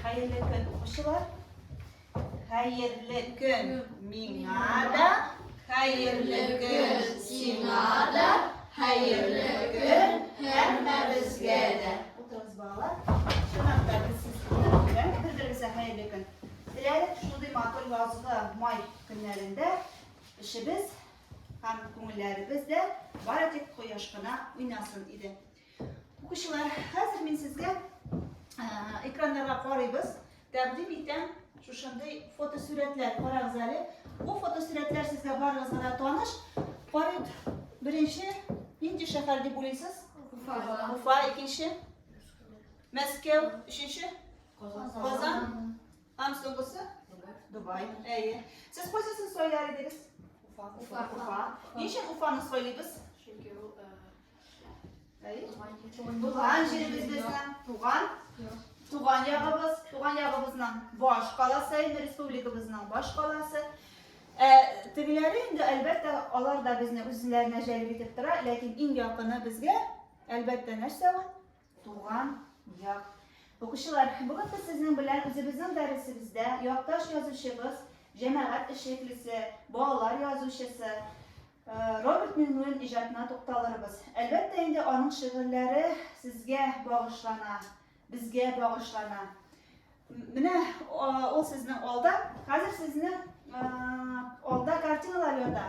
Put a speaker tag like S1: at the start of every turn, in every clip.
S1: Хәерле көн, укучылар. Хәерле көн миңа да, хәерле көн сиңа да, хәерле көн һәммәбезгә дә. Утырыгыз, балалар. Чынлап та без сезгә белән бер-берегезгә хәерле көн. Теләдек шундый матур язгы май көннәрендә эшебез һәм күңелләребез дә бары тик кояш кына уйнасын иде. Укучылар, хәзер мин сезгә экраннарга карыйбыз. Тәкъдим итәм шушындый фотосурәтләр карагыз әле. Бу фотосурәтләр сезгә барыгызга да таныш. Карыйк, беренче нинди шәһәр дип уйлыйсыз? Уфа. Уфа, икенче. Мәскәү, өченче. Казан. Һәм соңгысы? Дубай. Әйе. Сез кайсысын сайлар идегез? Уфа. Уфа. Ничек Уфаны сайлыйбыз? Чөнки ул Туган җиребез безнең, туган, туган ягыбыз, туган ягыбызның баш каласы, инде республикабызның баш каласы. Ә тегеләре инде әлбәттә алар да безне үзләренә җәлеп итеп тора, ләкин иң якыны безгә әлбәттә нәрсә ул? Туган як. Укучылар, бүген без сезнең белән үзебезнең дәресебездә якташ язучыбыз, җәмәгать эшлеклесе, балалар язучысы э, Роберт Миңнуллин иҗатына тукталырбыз. Әлбәттә инде аның шигырьләре сезгә багышлана, безгә багышлана. Менә ул сезнең алда, хәзер сезнең э, алда картиналар ята.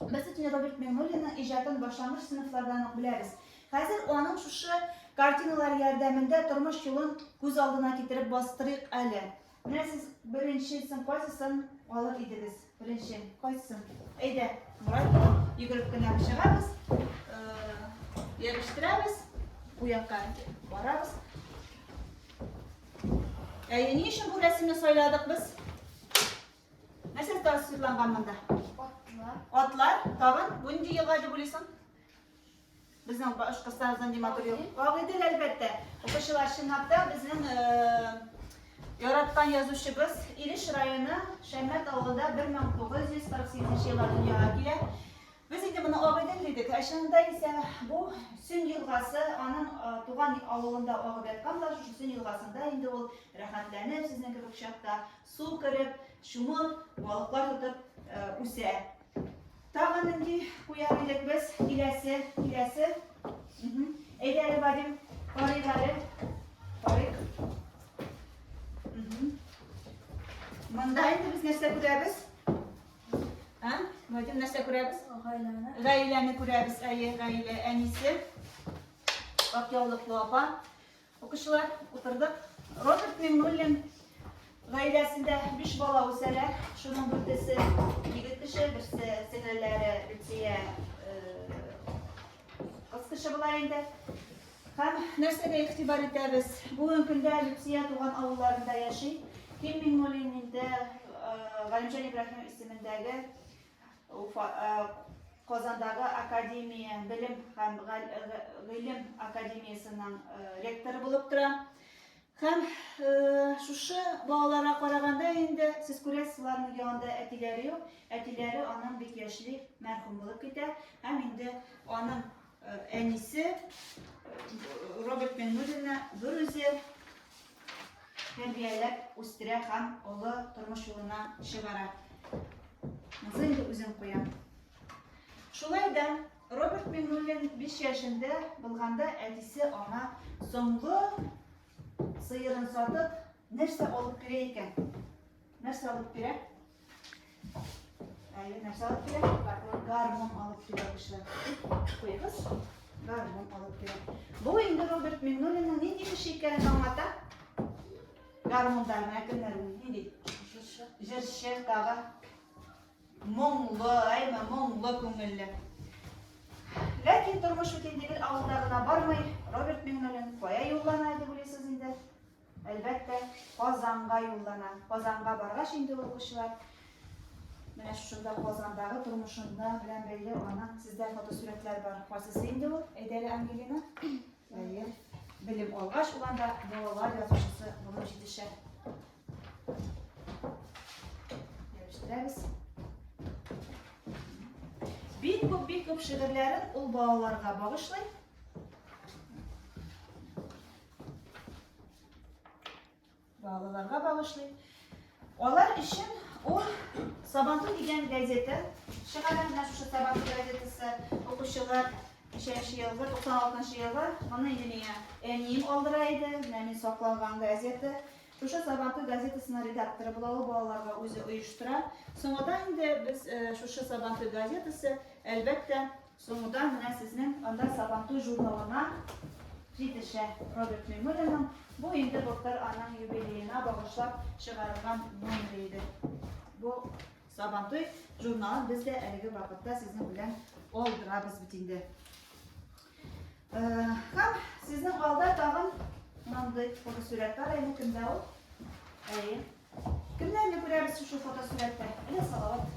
S1: Без бит инде Роберт Миңнуллинның иҗатын башлангыч сыйныфлардан ук беләбез. Хәзер аның шушы картиналар ярдәмендә тормыш юлын күз алдына китереп бастырыйк әле. Менә сез беренчесен кайсысын алыр идегез? Беренче кайсысын? Әйдә, Мурат, йөгереп кенә чыгабыз, ябештирәбез, бу якка барабыз. Әйе, ни өчен бу рәсемне сайладык без? Нәрсә тасвирланган монда? Атлар. Атлар, тагын нинди елга дип уйлыйсың? Безнең Башкортстаныбыздан Диматур ел. Агыйдел әлбәттә. Укучылар чынлап та безнең э, яраткан язучыбыз Илеш районы Шәммәт авылында 1948 елда дөньяга килә. Без инде моны Агыйдел дидек. Ә чынында исә бу Сүн елгасы, аның э, туган авылында агып яткан да, шушы Сүн елгасында инде ул рәхәтләнеп сезнең кебек чакта Су кереп, чумып, балыклар тотып үсә. Тагы нинди куяр идек без? Киләсе, киләсе. Әйдә әле, Вадим, карыйк әле. Карыйк. Монда инде без нәрсә күрәбез? Ә? Вадим нәрсә күрәбез? Гаиләне. Гаиләне күрәбез, әйе, гаилә әнисе. Ак яулыклы апа. Укучылар, утырдык. Роберт Миңнуллин гаиләсендә биш бала үсәлә. Шуның дүртесе егет кеше, берсе сеңелләре Люция кыз кеше була инде. Һәм нәрсәгә игътибар итәбез? Бүген көндә Люция туган авылларында яши. Ким Миңнуллин инде Галимҗан Ибраһимов исемендәге Казандагы академия, белем һәм гыйлем академиясенең ректоры булып тора. Һәм шушы балаларга караганда инде сез күрәсез, аларның янында әтиләре юк. Әтиләре аның бик яшьли мәрхүм булып китә. Һәм инде аның Әнисе Роберт Миннуллина берүзе тәрбияләп үстерә һәм олы тормыш юлына чыгара. Музей инде үзен куя. Шулай да Роберт Миннуллин 5 яшендә булганда әтисе аңа соңгы сыерын сатып нәрсә алып керә икән? Нәрсә алып килә? Әле нәрсә алып килә? Гармон алып килә кешеләр. Куйгыз. Гармон алып килә. Бу инде Роберт Миннулинның нинди кеше икәнен аңлата. Гармондарына кемнәр нинди? Җырчы. Җырчы тагы. Моңлы, әйме, моңлы күңелле. Ләкин тормыш бөтен дигел авылда гына бармый. Роберт Миннулин кая юллана иде, белесез инде. Әлбәттә, Казанга юллана. Казанга баргач инде ул укучылар менә шушында Казандагы тормышында белән бәйле аның сездә фотосурәтләр бар. Кайсысы инде ул? Әйдә әле Ангелина. Әйе. Белем алгач ул анда балалар язучысы булып җитешә. Ябыштырабыз. Бик күп, бик күп шигырьләрен ул балаларга багышлый. Балаларга багышлыйм. Алар өчен ул Сабантуй дигән газета чыгара, менә шушы Сабантуй газетасы укучылар ничәнче елгы, 96 елгы, моны инде миңа әнием алдыра иде, менә мин сакланган газета. Шушы Сабантуй газетасының редакторы була ул, балаларга үзе оештыра. Соңадан инде без шушы Сабантуй газетасы, әлбәттә, Соңгыдан менә сезнең анда Сабантуй журналына җитешә Роберт Миңнуллинның бу инде былтыр аның юбилеена багышлап чыгарылган номеры иде. Бу Сабантуй журналын без дә әлеге вакытта сезнең белән алдырабыз бит инде. Һәм сезнең алда тагын мондый фотосурәт бар, әйе, кемдә ул? Әйе. Кемнәрне күрәбез шушы фотосурәттә? Әле Салават.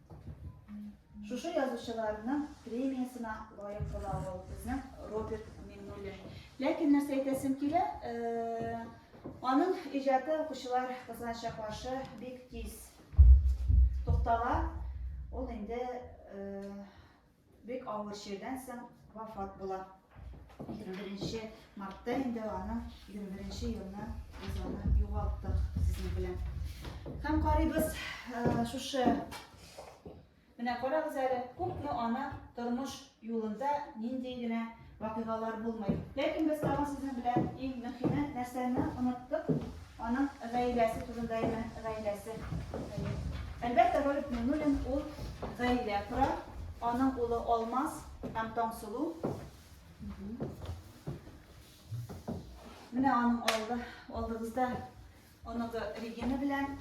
S1: Шушы язучыларның премиясына лаек була ул безнең Роберт Миннуллин. Ләкин нәрсә әйтәсем килә, э, аның иҗаты укучылар кызганыча каршы бик тиз туктала. Ул инде э, Бик авыр чирдән соң вафат була. 21 мартта инде аның 21 елны без аны югалттык сезнең белән. Һәм карыйбыз э, шушы Менә карагыз әле, күпме ана тормыш юлында нинди генә Вакыйгалар булмый. Ләкин без тагын сезнең белән иң мөһиме нәрсәне оныттык, аның гаиләсе турында име, гаиләсе. Әйе. Әлбәттә, Ролик Миннуллин ул гаилә кора, аның улы Алмаз һәм Таңсылу. Менә аның алды, алдыгызда Оныгы Регина белән.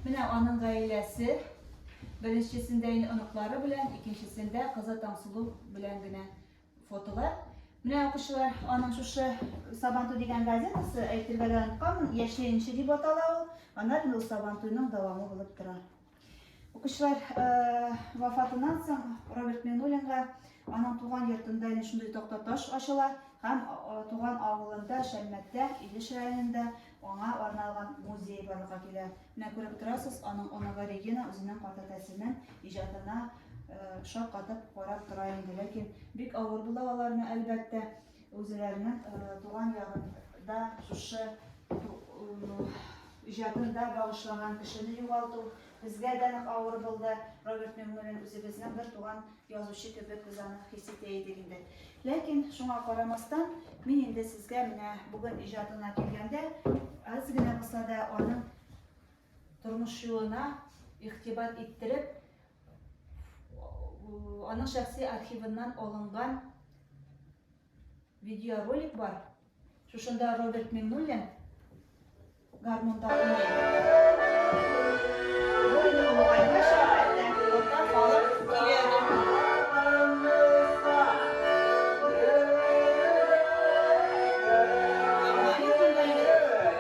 S1: Менә аның гаиләсе. Беренчесендә инде оныклары белән, икенчесендә кызы Таңсылу белән генә фотолар. Менә укучылар, аның шушы Сабантуй дигән газетасы, әйтергә дә онытканмын, яшьле инше дип атала ул. Анар инде ул Сабантуйның дәвамы булып тора. Укучылар вафатыннан соң Роберт Минулинга аның туган йортында әнә шундый такта таш ачыла һәм туган авылында Шәлмәттә, Илеш районында аңа арналган музей барлыкка килә. Менә күреп торасыз, аның оныгы Регина үзенең картәтәсенең иҗатына шаккатып карап тора инде. Ләкин бик авыр була аларны, әлбәттә. Үзләренең туган ягында шушы иҗатын да багышлаган кешене югалту безгә дә нык авыр булды. Роберт Миңнуллин үзебезнең бер туган язучы кебек без аны хис итә идек инде. Ләкин шуңа карамастан, мин инде сезгә менә бүген иҗатына килгәндә, аз генә булса да аның тормыш юлына игътибар иттереп, аның шәхси архивыннан алынган видеоролик бар. Шушында Роберт Миннуллин гармунда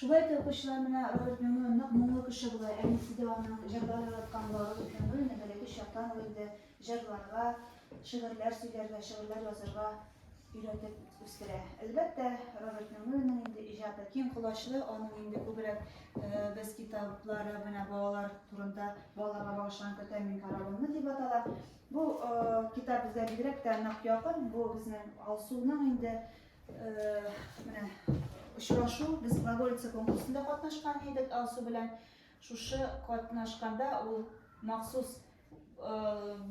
S1: Шулай итеп укучылар менә Роберт Мюңе нык моңлы кеше була, әнисе дә аның җырлар яраткан була. Роберт Мюңе инде бәләкәй чактан ук инде җырларга, шигырьләр сөйләргә, шигырьләр язырга өйрәтеп үстерә. Әлбәттә, Роберт Мюңеның инде иҗаты киң колачлы, аның инде күбрәк без китаплары менә балалар турында, балаларга багышланган Көтәм мин каравылны дип атала. Бу китап безгә бигрәк тә нык якын, бу безнең Алсуның инде Менә очрашу без глаголица конкурсында катнашкан идек Алсу белән. Шушы катнашканда ул махсус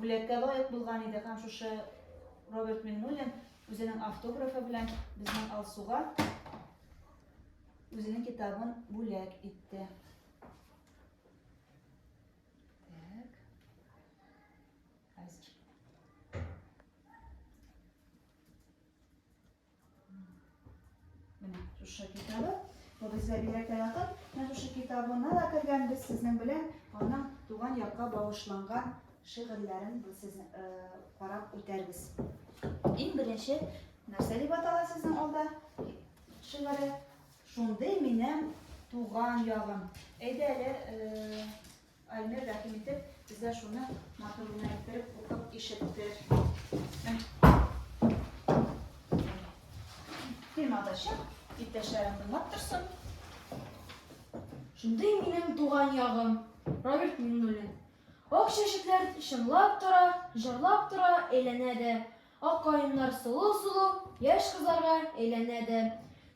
S1: бүләккә лаек булган иде һәм шушы Роберт Миннулин үзенең автографы белән безнең Алсуга үзенең китабын бүләк итте. Менә шушы китабы. Бу безгә бигрәк тә якын. Менә шушы китабына да кергәнбез сезнең белән. Аның туган якка багышланган шигырьләрен без сезне э, карап үтәрбез. Иң беренче нәрсә дип атала сезнең алда шигыре? Шундый минем туган ягым. Әйдә әле э, Альмир рәхим итеп, безгә шуны матур гына иттереп укып ишетте. Тыймада чык, иптәшләрем тыңлап торсын.
S2: Шундый минем туган ягым, Роберт Миннуллин. Ак чәчәкләр чыңлап тора, җырлап тора, әйләнә дә. Ак каеннар сылу-сылу яшь кызларга әйләнә дә,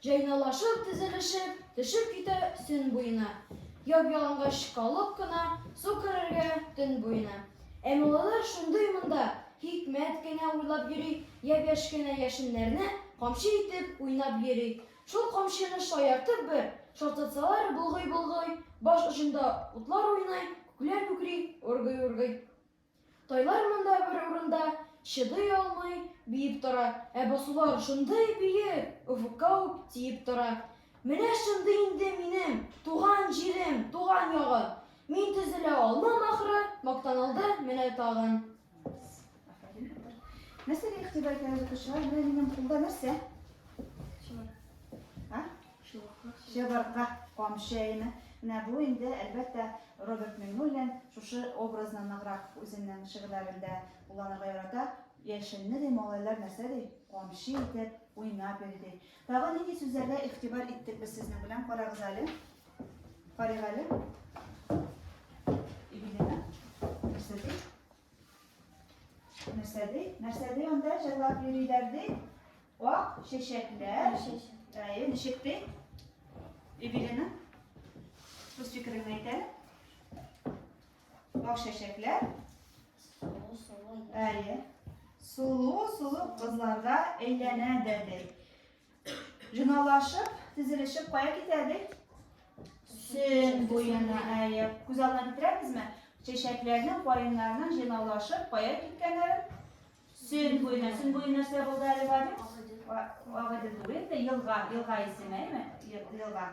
S2: җайналашып, тезелешеп, төшеп китә сөн буена. Яп-ялангач калып кына су керергә төн буена. Ә малайлар шундый монда хикмәт кенә уйлап йөри, япь-яшь кенә яшеннәрне камчы итеп уйнап йөри. Шул камчыны шаяртып бер шартлатсалар, болгый-болгый, баш очында утлар уйный, күкләр күкри, ургый-ургый. Тайлар монда бер урында чыдый алмый биеп тора, ә басулар шундый биек, офыкка ук тиеп тора. Менә шундый инде минем туган җирем, туган ягым. Мин төзелә алмам, ахры, мактан алды менә тагын.
S1: Нәрсәгә игътибар итәбез, укучылар? Менә минем кулда нәрсә? Чыбыркы камчы әйеме. Менә бу инде, әлбәттә, Роберт Миңнуллин шушы образны ныграк үзенең шигырьләрендә кулланырга ярата. Яшенне, ди, малайлар нәрсә ди? Камчы итеп уйнап йөри, ди. Тагы нинди сүзләргә игътибар иттек без сезнең белән? Карагыз әле. Карыйк әле. Игелина, нәрсә ди? Нәрсә ди? Нәрсә ди анда җырлап йөриләр ди? Ак чәчәкләр. Әйе, ничек ди? Эвелина, үз фикереңне әйтә. Ак чәчәкләр. Әйе. Сулу, сулу кызларга әйләнә дә ди. Жыналашып, тезелешеп кая китәбез? Сөн буена, әйе. Күз алдына китерәбезме? Чәчәкләрнең, каеннарның жыналашып кая киткәннәре? Сөн буена. Сөн буе нәрсә булды әле Вадим? Агыдым түгел, елга, елга исеме, әйме? Елга.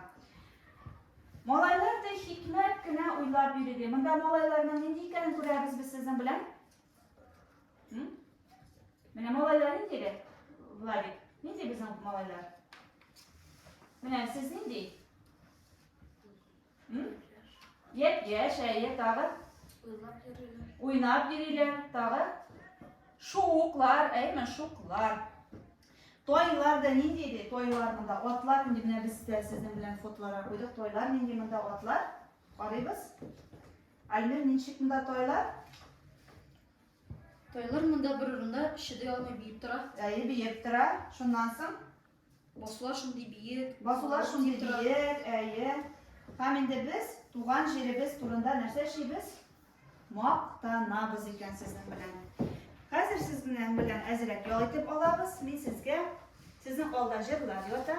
S1: Малайлар да хикмәт кенә уйлап йөрде. Монда малайларның нинди икәнен күрәбез без сезнең белән? Менә малайлар нинди дә? Владик, нинди безнең малайлар? Менә сез нинди? Яп, яшь, әйе, тагы? Уйнап йөриләр, тагы? Шуклар, әйме, шуклар. Тойлар да нинди иде? Тойлар монда атлар нинди? Менә без дә сезнең белән фотоларга куйдык. Тойлар нинди монда атлар? Карыйбыз. Айнур, ничек монда тайлар?
S2: Тайлар монда бер урында чыдый алмый биеп тора. Әйе, биеп тора.
S1: Шуннан соң? Басулар
S2: шундый биек. Басулар шундый
S1: биек, әйе. Һәм инде без туган җиребез турында нәрсә эшлибез? Мактанабыз икән сезнең белән. Хәзер сезнең белән әзрәк ял итеп алабыз. Мин сезгә сезнең алда җырлар ята.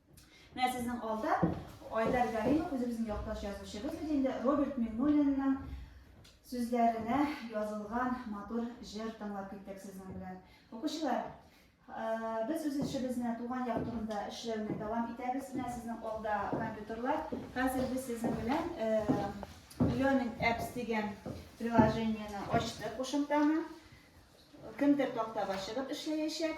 S1: Менә сезнең алда Айдар Галимов, үзебезнең якташ язучыбыз бит инде, Роберт Мигнуллинның сүзләренә язылган матур җыр тыңлап киттек сезнең белән. Укучылар, э, без үз эшебезне туган як турында эшләүне дәвам итәбез. Менә сезнең алда компьютерлар. Хәзер без сезнең белән э, Learning Apps дигән приложениене ачтык, кушымтаны. Кемдер тактага чыгып эшләячәк.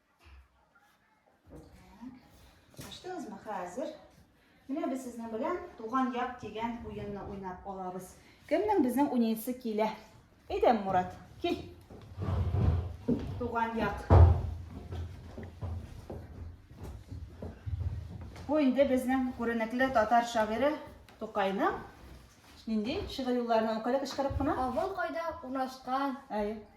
S1: Ачтыңызмы? Хәзер менә без сезнең белән туган як дигән уенны уйнап алабыз. Кемнең безнең уйнасы килә? Әйдәм, Мурат, кил. Туган як. Бу инде безнең күренекле татар шагыйре Тукайның нинди шигырь юлларына укыды кычкырып кына? Авыл кайда
S2: урнашкан? Әйе.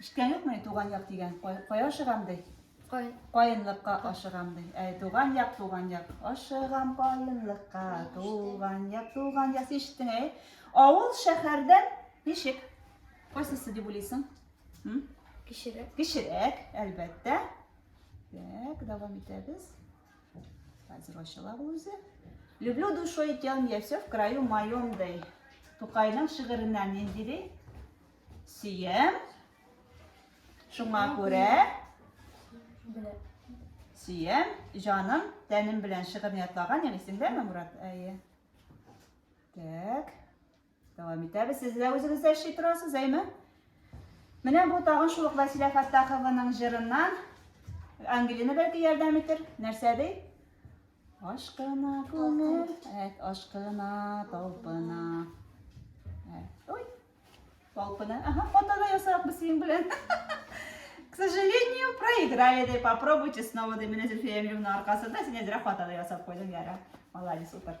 S1: Ишеткән юкмы, туган як дигән, кая ашыгам ди? Кай... Каенлыкка ашыгам ди. Ә туган як, туган як. Ашыгам каенлыкка, туган як, туган як. Ишеттең, әй? Авыл шәһәрдән ничек? Кайсысы дип уйлыйсың? Кечерәк. Кечерәк, әлбәттә. Так, дәвам итәбез. Хәзер ачылар үзе. Люблю душой тем, я все в краю моем дей. Тукайның шигыреннән нинди ди? Сөем. Шуңа күрә сөем, җаным, тәнем белән шигырьне ятлаган, яме исеңдәме, Мурат? Әйе. Так. Дәвам итәбез. Сез дә үзегез дә эшли торасыз, әйме? Менә бу тагын шул ук Василия Фаттахованың җырыннан Ангелина бәлки ярдәм итер. Нәрсә ди? Ашкына күңел, әт ашкына талпына. Ой. Талпына. Ага, фотода ясарак без синең белән. К сожалению, проиграли, ди. Попробуйте снова, ди. Менә Зөлфия Эмилевна аркасында син әзрәк фотода ясап куйдың, яра. Молодец, утыр.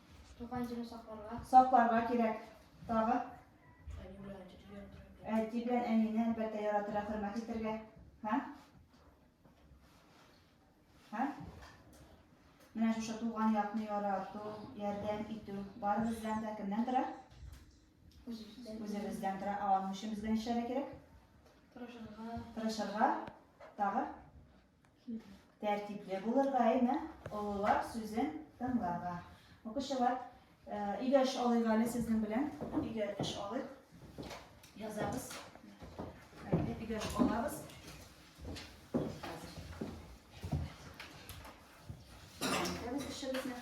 S1: Туган
S2: җирне сакларга. Сакларга
S1: кирәк. Тагы? Әти белән әнине әлбәттә яратырга, хөрмәт итәргә. Һә? Һә? Менә шушы туган якны ярату, ярдәм итү барыбыз белән дә кемнән тора? Үзебездән тора. Ә аның өчен безгә нишләргә кирәк? Тырышырга. Тырышырга. Тагы? Тәртипле булырга, әйме? Олылар сүзен тыңларга. Укучылар, өйдә эш алыйк әле сезнең белән. Өйдә эш алыйк. Язабыз. Әйдә, өйдә эш алабыз. Итәбез эшебезне.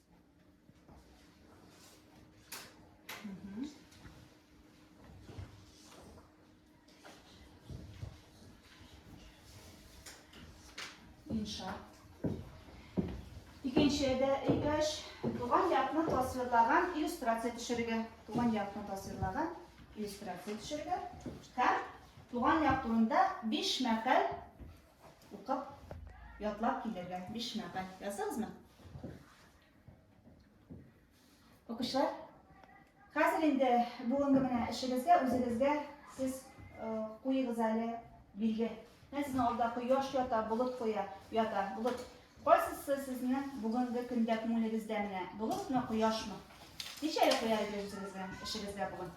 S1: Инша. Икенче дә икәш туган якны тасвирлаган иллюстрация төшерергә. Туган якны тасвирлаган иллюстрация төшерергә. Һәм туган як турында 5 мәкаль Укып, ятлап килергә. Биш мәкаль. Яздыгызмы? Укучылар, хәзер инде бүгенге менә эшегезгә, үзегезгә сез куегыз әле билге. Менә сезнең алда кояш ята, болыт куя, ята, болыт. Кайсысы сезнең бүгенге көндә күңелегездә менә? Болытмы, кояшмы? Ничәле куяр идегез үзегезнең эшегездә бүген?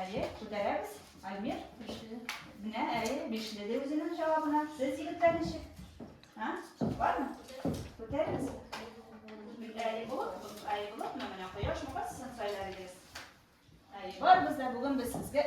S1: Әйе, күтәрәбез. Альмир? Бишле. Менә, әйе, бишле ди үзенең җавабына. Сез, егетләр, ничек? А? Бармы? Күтәрегез. Әйе, болыт, әйе, болытмы, менә кояшмы, кайсысын сайлар идегез? Әйе, барыбыз да бүген без сезгә